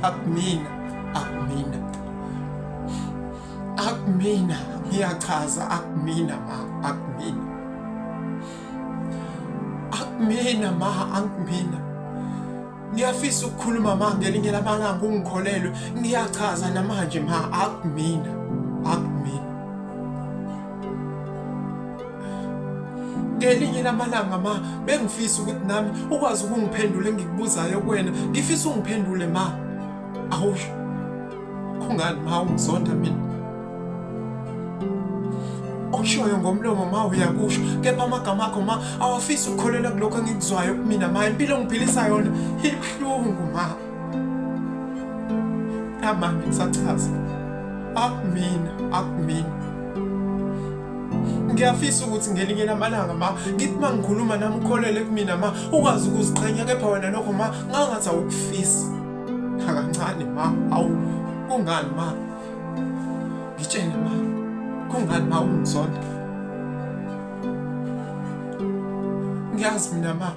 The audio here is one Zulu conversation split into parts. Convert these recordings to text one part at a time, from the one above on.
akumina akumina akumina ngiyachaza akumina ma akumina akumina ma akumina ngiyafisa ukukhuluma ma ngelinye lamalanga ungikholelwe ngiyachaza namanje ma akumina akumina ngelinye lamalanga ma bengifisa ukuthi nami ukwazi ukungiphendula engikubuzayo kuwena ngifisa ungiphendule ma awu kungani ma ungizonda mina okushoyo ngomlomo ma uyakusho kepha amagama akho ma awafisi ukukholela kulokho engikuzwayo kumina ma impilo ngiphilisa yona ibuhlungu ma amanye ngisachaza akumina akumina ngiyafisa ukuthi ngelinye lamalanga ma ngithi ma ngikhuluma nami ukholele kumina ma ukwazi ukuziqhenya kepha wena lokho ma ngangathi awukufisi akancane ma awu kungani ma ngitshele ma kungani ma ungizonda ngiyazi mina ma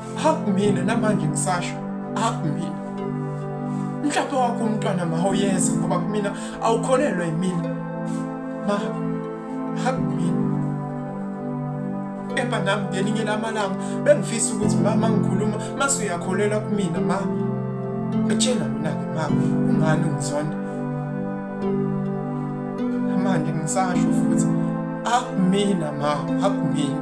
akumina namanje ngisasho akumina mhlawumbe wakho umntwana ma awuyenza ngoba kumina awukholelwa yimina ma akumina kepha nami ngelinye lamalanga bengifisa ukuthi mama ngikhuluma mase uyakholelwa kumina ma etshela mina-ke ma ungani ungizonda manje ngisasho futhi akumina ma akumina